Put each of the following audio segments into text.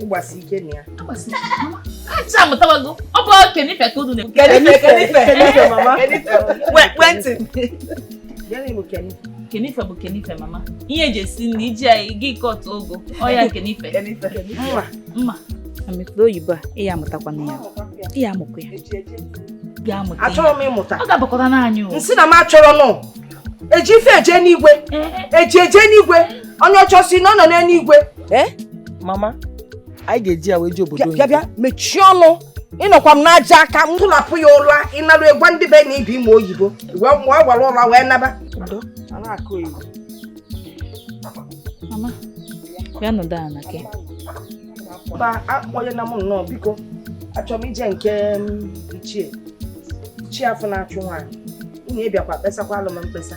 ịgbasi ike na ya acha amụtawago ọ bụ kenife ka unu na-ekwu kenife kenife kenife mama ekwentị kenife bụ kenife mma ihe eji esi nri iji anyị gị kọtụ ogo ọya kenife mma mma amịkpụrụ oyibo a ị ya amụtakwa na ya ị ya amụkwa ya achọrọ m ịmụta ọ ga-abakọta n'anyị m sị na m achọrọ nụ eji ife eje n'igwe eji eje n'igwe onye ọcha sị na ọ nọ n'eluigwe ee eh? mama anyị ga-eji ya wee je obodo bịa bịa mechie ọnụ ị nọkwa m n'aja aka m tụlapụ ya ụra ịnarụ egwa ndị be na ibi ime oyibo wee mụọ gwara ụra wee naba mama bịa nọdụ ala gị mba akpọnye na m nnọọ biko achọrọ m ije nke ichie chi afọ na-achụ nwaanyị unu abịakwa kpesakwalụ m mkpesa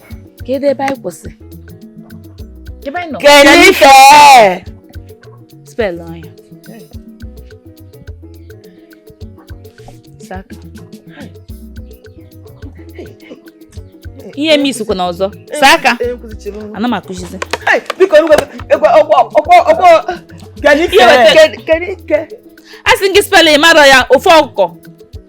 kedu ebe anyị kwụsị ebe anyị nọ kenife spelụnụ ya saka ihe m isikwa na ọzọ saa aka ana m akụzizi a sị gị spelụ ị mara ya ofe ọkụkọ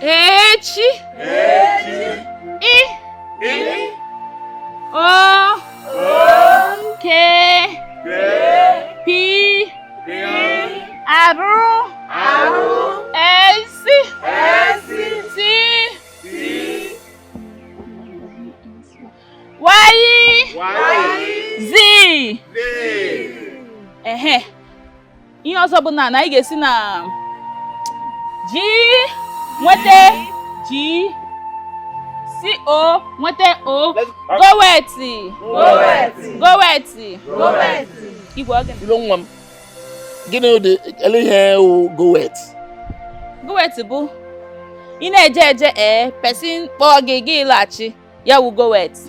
echi ihe ọzọ bụ na anyị ga-esi na G nweta G si O nweta O goweti goweti igwe oge nwa m gịnị wụdị ele ihe wụ goweti goweti bụ ị na-eje eje ee person kpọọ gị gị laghachi ya wụ goweti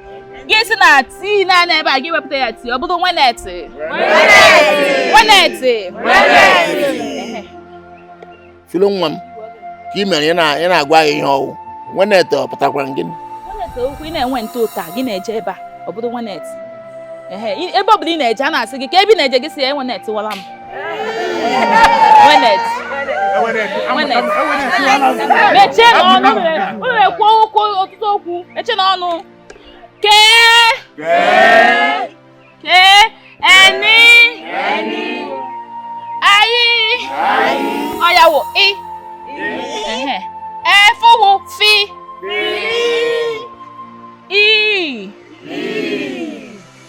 gị si na T naanị ebe a gị wepụta ya T ọ bụrụ wenetị wenetị Philo nwa m kee ihe mere ị na-agwa ya ihe ọ wụ wenetị ọ pụtakwara gịnị wenetị okwu ị na-ewent ụta gị na-eje ebe a ọ bụrụ wenetị ebe ọ bụla ị na-eje a na-asị gị kee ebe ị na-eje gị sị ya ewenetịwala m mechienụ ọnụ unu na-ekwu okwu ọtụtụ okwu mechienụ ọnụ K K N I ọ ya wụ I F ọ wụ F E.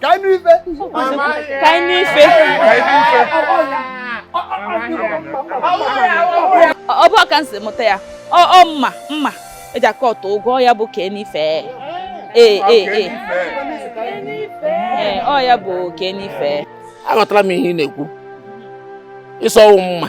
ka anyị nụ ife ka anyị nụ ife ọ bụ aka m si mụta ya ọ mma mma eji akwatu ugwu ya bụ kee n'ife ee ee ee ee ọ ya bụ kee n'ife aghọtara m ihe ị na-ekwu ị sị ọ wụ mma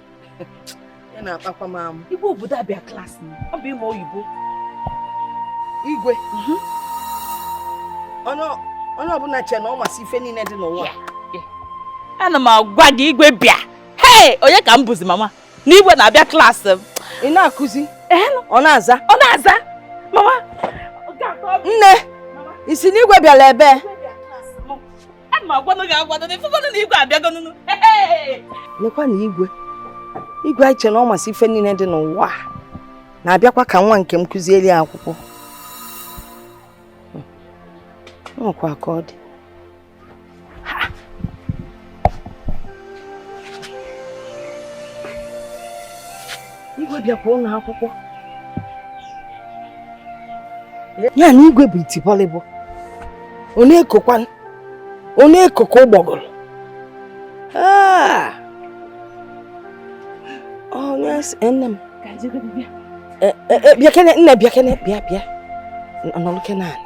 ị na-akpakwa m amụ igwe obodo a bịa klaasị m ọ bụ ịma oyibo igwe mhm. onye ọbụla che na ọ masị ife niile dị n'ụwa ana m agwa gị igwe bịa hei onye ka m bụzi mama na igwe na-abịa klaasị m ị na-akụzi ọ na-aza ọ na-aza mama nne ị sị na igwe bịara ebe ana m agwanụ gị agwanụ na ị fụgonụ na igwe abịagonụnụ nekwa na igwe igwe anyị che na ọ masị ife niile dị n'ụwa na-abịakwa ka nwa nke m kụzieli ya akwụkwọ ọ kwa ka ọ dị Igwe bịakwa ụlọ akwụkwọ. Ya na igwe bụ iti bọlịbọ. Ọ na-ekokwa ọ na-eko ka ụgbọgụrụ. Ah! Oh, yes, nne m. Eh, eh, eh, bịakene nne bịakene bịa bịa. Nọlụkene anị.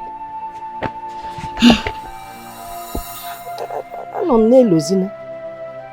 Anọ m n'elu ozi nụ.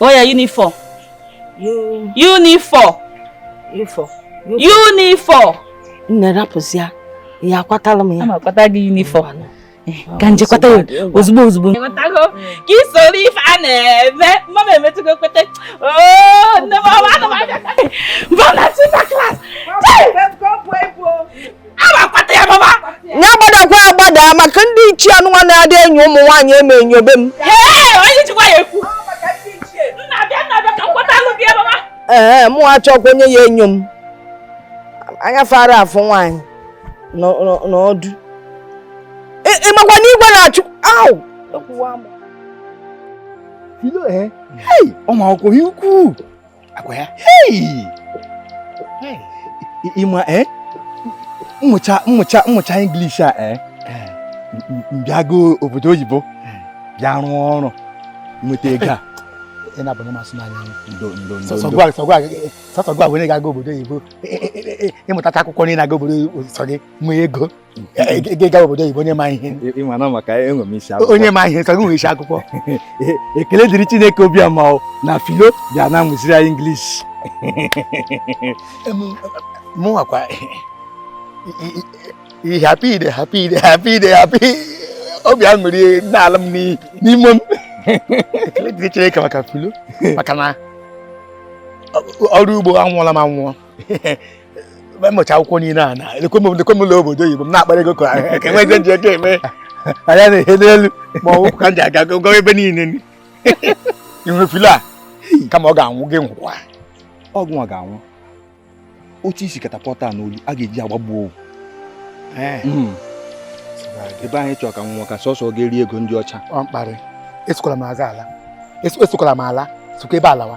oya uniform uniform uniform nne rapụzia ya akwatala m ya akwata gị uniform ka m je kwata ya ozugbo ozugbo ka i soro ife a na-eme mama emetụgo kweta nne m ọma anụmanụ mba na chita class ya gbadakwa agbada maka ndị ichie anụnwa na-adị enyo ụmụ nwaanyị eme enyobe m ee mụ achọkwa onye ya enyo m anya fa ara afụ nwaanyị n'ọdụ ị makwa na igwe na-achụ ahụ ụmụ akwụkwọ ihe ukwuu ọ kwa ya ị ma eh? m mụcha m mụcha m mụcha English a eh? eh. m bịa gaa obodo oyibo bịa rụọ ọrụ nweta ego a ị na-abụ na masị n'anya sọsọ gịwa were ga-aga obodo oyibo ị mụtacha akwụkwọ niile aga obodo oyibo sọ gị nwee ego gị gawa obodo oyibo onye ma ihe onye ma ihe sọ gị nwe isi akwụkwọ ekele dịrị Chineke obiọma na Philo bịa na-amụziri anyị English mụnwakwa happy I dey happy I dey happy I dey happy obi aṅụrị na-ala m n'ime m ekele dịrị Chineke maka Philo maka na ọrụ ugbo anwụọla m anwụọ mụcha akwụkwọ niile a na lekwe m ụlọ obodo oyibo m na-akpara ego ka ka enwe eze nji ego eme anya na-ehe n'elu ma ọ ka m ji aga gụgọ ebe niile inwe Philo a kama ọ ga-anwụ gị nwụkwa ọgwụ ọ ga-anwụ otu isi katapọta n'olu a ga-eji agbagbuo owu eh. hmm. ebe anyị chọrọ ka nwa ka sọsọ ọ ga-eri ego ndị ọcha ọ mkparị esokwala m azụ ala esokwala m ala sokwa ebe alawa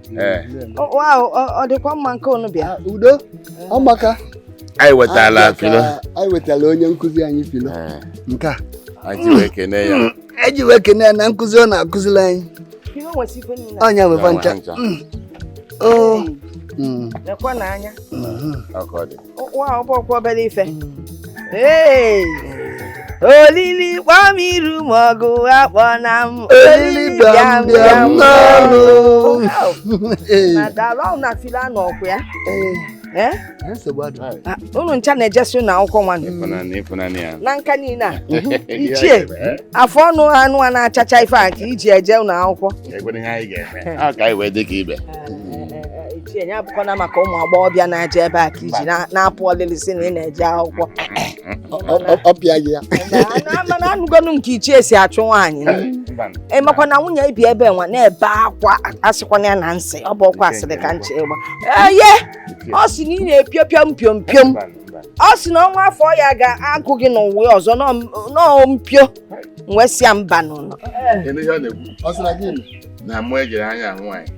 ọ dịkwa mma nke unu bịa ah, udo ọ maka anyị wetala ah, Philo anyị wetala onye nkụzi anyị Philo eh. nke a eji wee kene ya eji wee kene ya na nkụzi ọ na-akụziri anyị ọ nya nwe fa ncha olili kpọ m iru ma ọgụ akpọna m olili bịa m bịa m n'ọnụ na Philo anọkwa ya Eh? Ah, unu ncha na-ejesi ụnọ akwụkwọ nwanne na nka niine a ichie eh? afọ ọnụ a nụwa na-achacha ife a ka i ji eje ụnọ akwụkwọ Ichie nya abụkwana maka ụmụ agbọghọbịa na-eje ebe a ka i ji na- na-apụ ọlịlị si na ị na-eje akwụkwọ ọ pịa gị ya mana anụgonu nke ichie si achụ nwaanyị ị makwa na nwunye i bi ebe nwa na-ebe akwa asịkwana ya na m sị ọ bụrọkwa asịrị ka m chọ ịgba eye ọ sị na ị na-epiopio mpio mpio m ọ sị na ọnwa afọ ya ga-agụ gị n'ụwa ọzọ na mpio nwesịa mba n'ụlọ Kedu ihe ọ na-ekwu? Ọ sị na gịnị? Na mụ ejere anya ahụ anyị.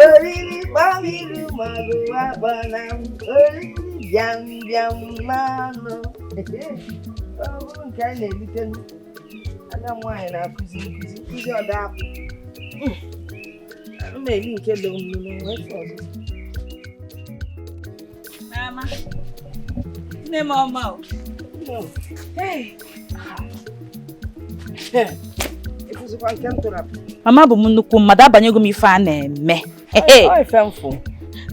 oriri kpọ m iru ma ọgụ akpọna m oriri bịa m bịa m mmanụ ọ bụrụ nke a na-elite ada m nwaanyị na-akụzi nkụzi nkụzi ọ dapụ m na-eli nke dị omume n'ụwa Mama. Nne m ọma o. Ị fụzikwa nke m tụrụ apụ. Mama abụ m nnukwu mmadụ abanyego m ife a na-eme. Ọ ife m fụ.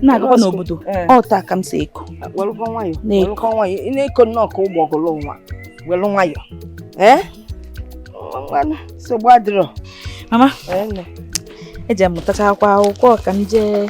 Na-agakwa n'obodo. Eh. Ọ taa ka m si eko. Welụkwa nwayọ. Welụkwa nwayọ. Ị na-eko nnọọ ka ụgbọgụlụ nwa. Welụ nwayọ. Ee? Nsogbu adịrọ. Mama. Ee. Eje m mụtachakwa akwụkwọ ka m jee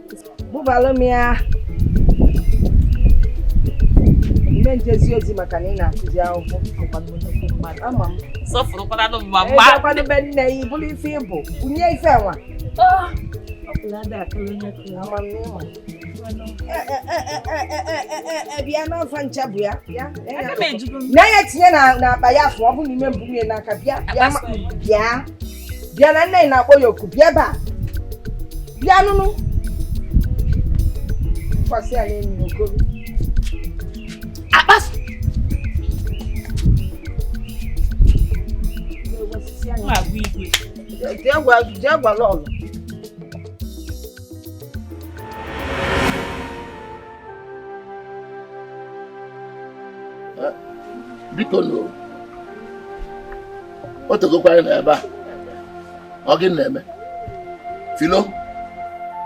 bubalụ m ya ime njezi ozi maka na ị na-akụzi akwụkwọ ama m sọfụrụkwaranụ mma mgba ekwadebe nne ya bulu ife ibu bunye ife nwa bịa n'afọ ncha bụ ya na ya tinye n'akpa ya afọ ọ bụ n'ime mbụ nwunye n'aka bịa bịa bịa na nne na-akpọ ya oku bịa ebe a bịa nụnụ kwasị ya n'enyi okoro akpas jee gwa lọlọ biko nụ o tegokwa anyị nọ ebe a ọ gịnị na-eme filo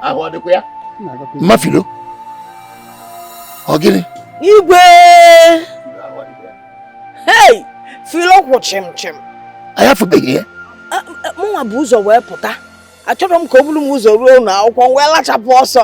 ahụ ọ dịkwa ya mma filo ọ gịnị igwe hei filo kwụ chịm chịm anyị afụbeghị ya mụnwa bu ụzọ wee pụta achọrọ m ka o bulu m ụzọ ruo ụnọ akwụkwọ m wee lachapụ ọsọ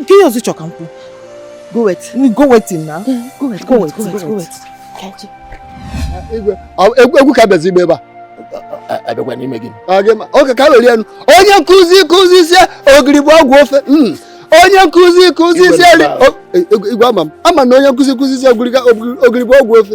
nke ihe ọzọ chọka nkwu go wait go wait na go wait go wait go wait egwu ka bịazi ịgba ebe a abịakwa n'ime gị oke ka were enu onye nkụzi kụzisie ogiri bụ ọgwụ ofe hmm. onye nkụzi kụzisie igwe ama m ama na onye nkụzi kụzisie ogiri bụ ọgwụ ofe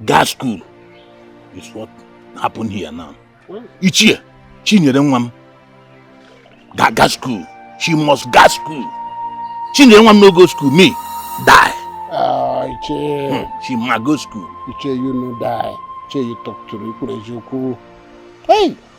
gaa school is what happened here now ichie chinyere nwa m ga school she must ga school chinyere nwa m no go school me die ah, ichie hmm, she must go school ichie you no die ichie you talk to me kwuru eziokwu hey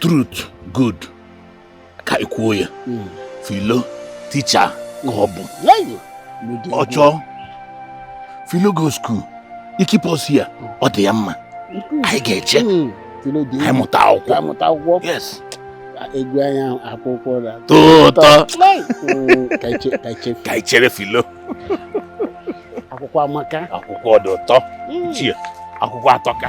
truth good ka i kwuo ya hmm. filo teacher ka ọ bụ ọ chọọ filo go school i keep us here ọ dị ya mma hmm. anyị ga-eche hmm. anyị mụta akwụkwọ yes egwu anya akwụkwọ na-atọ ụtọ ka anyị chere filo akwụkwọ amaka akwụkwọ dị ụtọ akwụkwọ atọka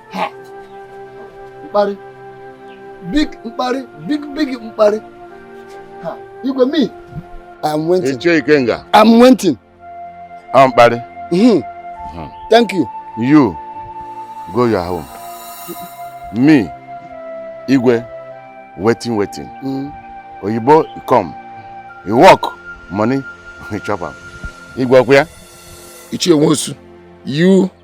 ha mkparị big mkparị big big mkparị ha igwe me I'm waiting. Ichie Ikenga. I'm waiting. I'm mkparị. Mm-hmm. Mm-hmm. Thank you. You go your home. Me, Igwe, waiting, waiting. Mm. Oyibo come, you work, money, you chop am. Igwe ọkwa ya? Ichie Nwosu, you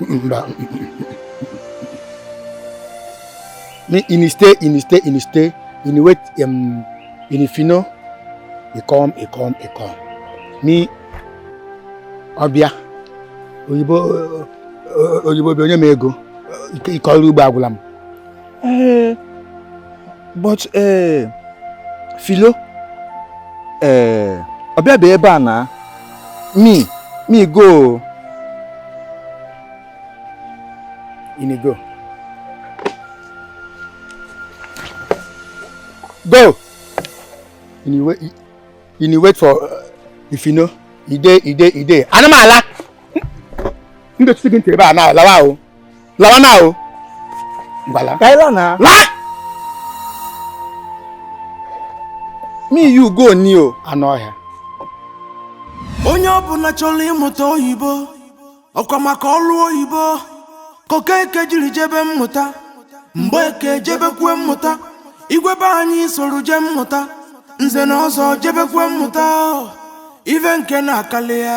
mba in stay in stay in stay in wait um, in if you know you come you come you come me ọbịa oyibo oyibo bi onye m ego ịkọrọ ugbo agwụla m ee but ee Philo ee ọ bịabe ebe a na me me go ini go go ini wait ini wait for uh, if you know ide ide ide animal m ga-etusi gị ntị ebe a na-alawa o lawa na o gbala ka ila na la me you go ni o anụ ọhịa onye ọbụla chọrọ ịmụta oyibo ọkwa maka ọrụ oyibo ka Okeke jiri jebe mmụta Mgbeke jebekwe mmụta igwe be anyị soro jee mmụta nze na ọzọ jebekwe mmụta ive nke na akalịa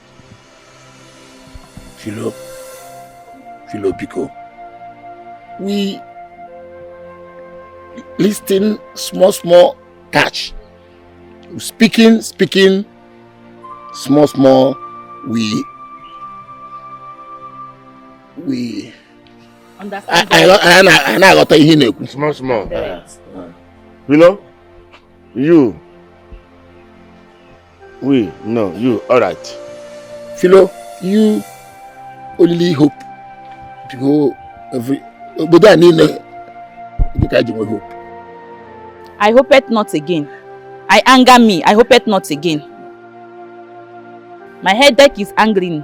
Philo, Philo Pico, we listen small, small touch. Speaking, speaking, small, small, we, we. Understand? I, I, I, I, I, I got a Small, small. Uh, uh. You know, you we no you all right filo you only hope to go every obodo a niile dịka anyị ji nwe hope i hope it not again i anger me i hope it not again my headache is angering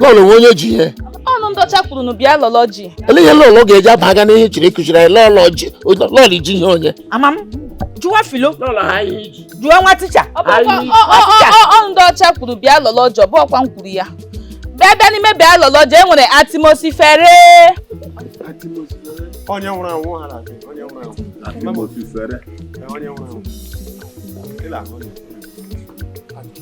lọlọ wụ onye ji ihe ọ wụ ndị ọcha kwuru na biology ele ihe lọlọ ga-eji abaga n'ihe chiri kụchiri anyị lọlọ ji lọlọ ji ihe onye ama m jụwa Philo lọlọ ha ihe i ji jụwa nwa ticha Ọ bụ ọkwa- Anyị- ọ- ọ- ọ- ọ- ọnụ ndọcha kwuru bịa lọlọ ji ọ bụ ọkwa m kwuru ya bịa bịa n'ime biology e nwere atmosphere onye nwụrụ anwụ ha na-asị onye nwụrụ anwụ Ee, onye nwụrụ anwụ Ị na-ahụ onye nwụrụ anwụ.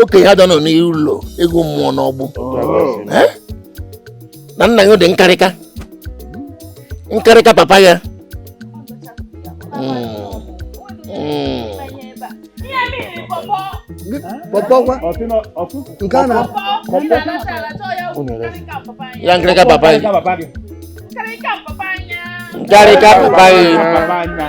okenye ada anọ n'ụlọ eghu mụọ n'ọgbụ Eh? na nna ya dị nkarịka nkarịka papa ya Mm. Mm. pọpọ gwa nke a na ya nkarịka papa ya nkarịka papa ya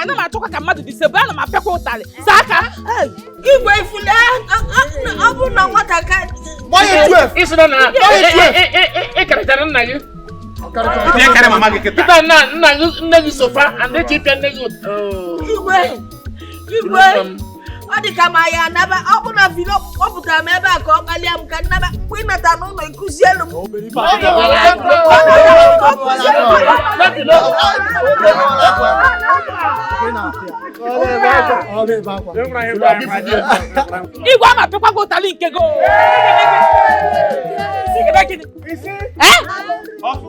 ana m achọkwa ka mmadụ disobey ana m apịakwa ụtalị saa aka igwe i fule ọ bụ na nwata ka ịkarịchara nna gị kịta nna nna gị nne gị suffer and echi ị pịa nne gị igwe igwe ọ dị ka m ya-anaba ọ bụ na Philo kpọpụtara m ebe a ka ọ kpalịa m ka m naba mgbe ị nata n'ụlọ ị kuzielu m igwe ama pịakwa gị ụtalị nke gị Isi gị be gịnị? Isi. Eh? Ọkụ.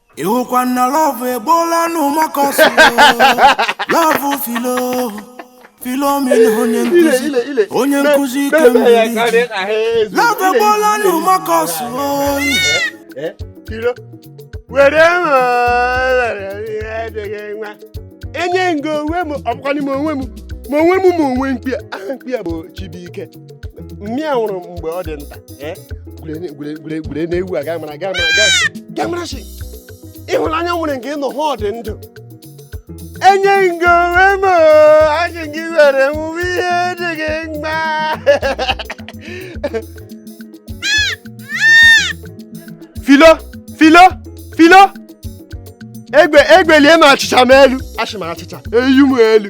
ịhụkwa na love egboola n'ụmụaka ọsọ love Philo Philomena onye nkuzi onye nkuzi kemgbe love egboola n'ụmụaka ọsọ Philo. Were m adịghị nwa. Enye ngo onwe m ọbụkwanị m onwe m ma onwe m ma onwe mkpi a mkpi a bụ Chibuike mmiri a nwụrụ mgbe ọ dị nta eh? gwere na-ewu a gamara gamara shi ịhụnanya nwere nke ịnọ ha ọ dị ndụ enye nke onwe m achị gị were nwụwe ihe dị gị mma Philo Philo Philo egbe egbelie m achịcha m elu achị m achịcha eyu m elu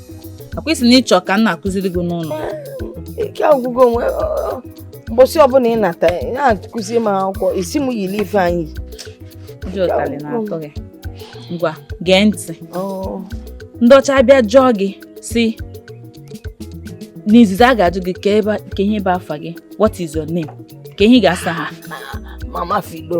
akwa ị sị na ị chọ ka m na-akụziri gị n'ụlọ ike agwụgo onwe mbọsị ọbụla ị nata na-akụzi m akwụkwọ isi m yiri ife anyị ndị ụtarị na-atọ gị ngwa gee ntị ndị ọcha bịa jụọ gị sị n'izizi a ga-ajụ gị kee ihe bụ afa gị what is your name kee ihe ị ga-asa ha mama Philo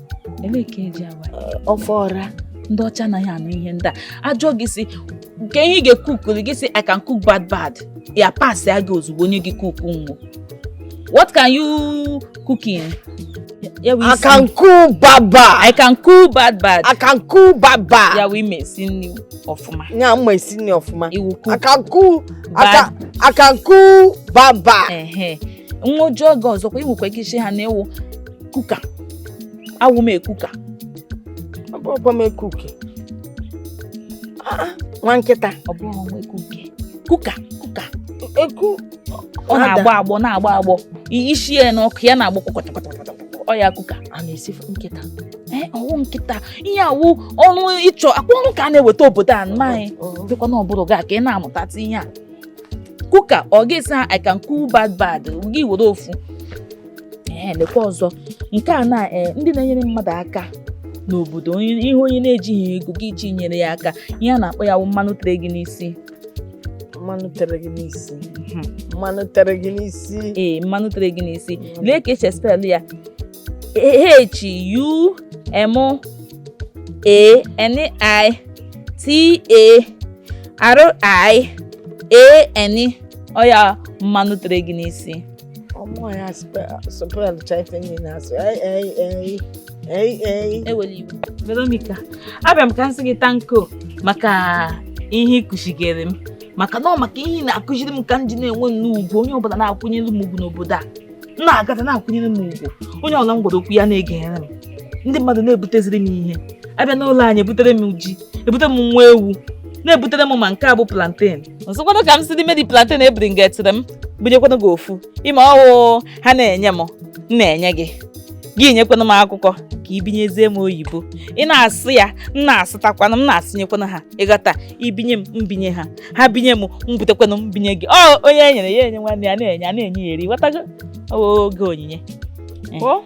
Elee ka eji awa ya? ofe ọra Ndị ọcha anaghị anụ ihe ndị a. Ajụọ gị sị kee ihe ị ga-ekukuli gị sị I can cook bad bad. Ya pasịa gị ozugbo onye gị kuku nwo. What can you cook in? Ya wee sị, I can cook baba I can cook bad bad. I can cook baba Ya wụ m ma esi nri ọfụma. nya m ma esi nri ọfụma Ị wụ cook I can cook bad. I can cook baba Ehe. Ngwa ọ jụọ gị ọzọkwa ị nwekwa ike ịsị ha na ị wụ cooker awụ m ekuka ọkwa m ekuke nwa nkịta ọ bụrọ nwa ekuke cooker cooker eku ọ na-agbọ agbọ na-agbọ agbọ e sie ya n'ọkụ ya na-agbọ kpọkọtọkọtọkọtọ ọ ya cooker a na-esi nkịta ee ọ wụ nkịta ihe a wụ ọrụ ị chọ akwa ọrụ ka a na-eweta obodo a nna anyị dịkwa na ọbụrụ gị ka ị na-amụtatụ ihe a cooker ọ ga-asị ha I can cook bad bad gị were ofu ee lekwa ọzọ nke a na ee ndị na-enyere mmadụ aka n'obodo onye- ihe onye na-ejighị ego gị iji nyere ya aka ihe a na-akpọ ya wụ mmanụ tere gị n'isi mmanụ tere gị n'isi Mhm. mmanụ tere gị n'isi ee mmanụ tere gị n'isi lee ka esi espelụ ya h u m a n i t a r i a n ọ ya mmanụ tere gị n'isi ọ mụ ya spell cha ife ni ị na-asụ ei ei ei ei ei ewela iwu Veronica abịa m ka m sị gị tanko maka ihe ị kụzigere m maka na ọ maka ihe ị na-akụziri m ka m ji na-enwe nnukwu ugwu onye ọbụla na-akwụnyere m ugwu n'obodo a m na-agata na-akwụnyere m ugwu onye ọbụla m gwara okwu ya na-egere m ndị mmadụ na-ebuteziri m ihe abịa n'ụlọ anyị ebutere m ji ebutere m nwa ewu na-ebutere m ma nke a bụ plantain m sịkwanụ ka m si n'ime the plantain e bringetịrị m bunyekwanụ gị ofu ị ma ọ wụ ha na-enye m m na-enye gị gị nyekwanụ m akwụkwọ ka i binyezie m oyibo ị na-asụ ya m na-asụtakwanụ m na-asụnyekwanụ ha ị ghọta i binye m m binye ha ha binye m m butekwanụ m binye gị ọ onye e nyere ya enye nwanne ya na-enye a na-enye ya eri ghọtago Ọ oge onyinye Ọ?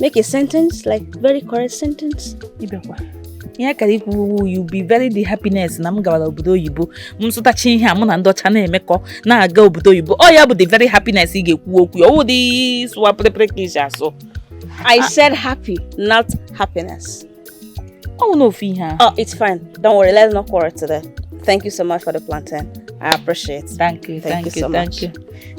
Make a sentence, like very correct sentence. Ibekwa. ihe ị kara ikwu you be very the happiness na m gawara obodo oyibo m sụtachi ihe a mụ na ndị ọcha na-emekọ na-aga obodo oyibo ọ ya bụ the very happiness ị ga-ekwu okwu ya ọ wụ dị sụwa pịrịpịrị ka e ji asụ I ah. said happy not happiness ọ wụ na ofu ihe a oh it's fine don't worry let's not quarrel today thank you so much for the plantain I appreciate thank you thank, thank you, you so thank much. you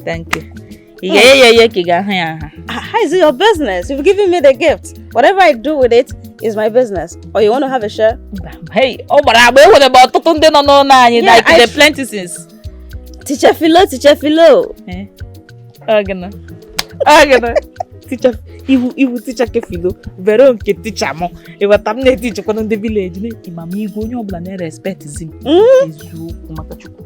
thank you Ị ga-eye ya eye ka ị ga-ahụ ya ahụ. Ah, How is it your business? You've given me the gift. Whatever I do with it is my business. Or you want to have a share? Hey, ọ gbara agba enwere m ọtụtụ ndị nọ n'ụlọ anyị Yeah, like I- the plenty since. Teacher Philo, teacher Philo. Eh, ọ gịnị? Ọ gịnị? Teacher ị wụ ị wụ teacher ke Philo Vero nke teacher m ị ghọta m na-etichekwana ndị village na-eti ma m igwe onye ọbụla na-erespectizi m Mm. eziokwu maka chukwu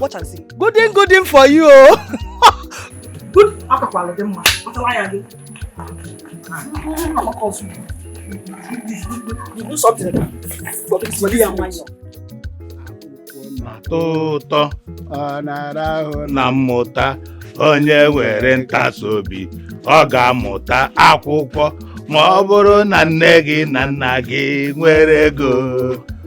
watch and see gooding gooding for you o good akakwala dị mma ọtawa ya gị you do something for this money and money na-atọ ụtọ ọ na-ara ahụ na mmụta onye nwere ntasi obi ọ ga-amụta akwụkwọ ma ọ bụrụ na nne gị na nna gị nwere ego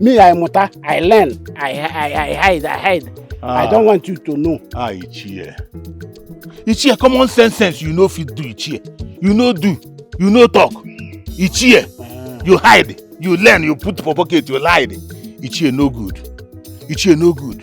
me i mụta i learn i i i hide i hide i Ah. don't want you to know Ah, Ichie. Ichie, common sense sense you no fit do, Ichie. You no do, you no talk. Ichie, you hide, you learn, you put for pocket, you hide. Ichie no good. Ichie no good.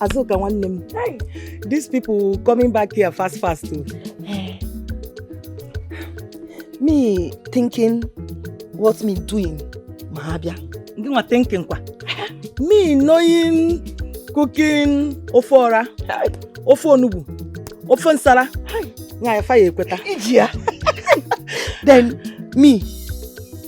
Azuka nwanne m these people coming back here fast fast o. Eh. me thinking what me doing ma ha bịa Gị nwa thinking kwa. Me knowing cooking ofe ọra, ofe onugbu, ofe nsala. Nwaanyị fa ya-ekweta. iji ya then me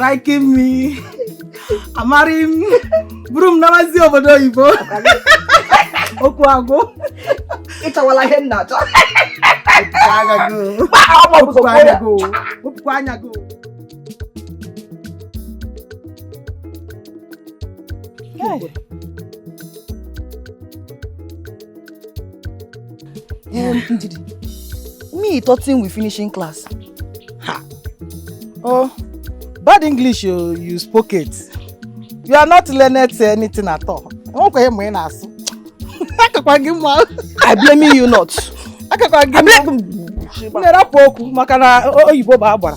liking me amarry m buru m nabazi obodo oyibo okwu agwụ ị chọwala ihe m na-achọ wepụkwa anya gị Hey. Um, Ndidi, me thoughting we finishing class. Ha. Oh, bad English oh, you spoke it. You are not learned to anything at all. Enwekwa ihe ma ị na-asụ. Akakwa gị mma. I blame you not. Akakwa gị mma. M na-erapụ okwu maka na o- oyibo bụ agbara.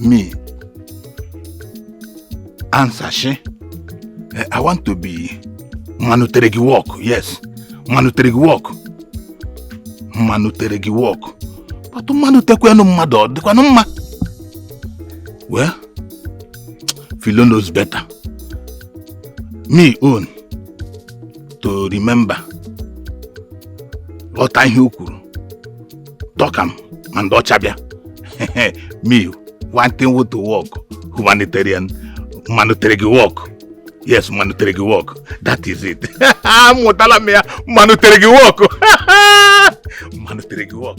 me answer she eh, i want to be mmanụ tere gị work yes mmanụ tere gị work mmanụ tere gị work but mmanụ tekwanụ mmadụ ọ dịkwanụ mma well Philo knows better me own to remember ghọta ihe o kwuru talk am ma ndị ọcha bịa me wanting wood to work humanitarian humanitarian work yes humanitarian work that is it amụtala m ya humanitarian work humanitarian work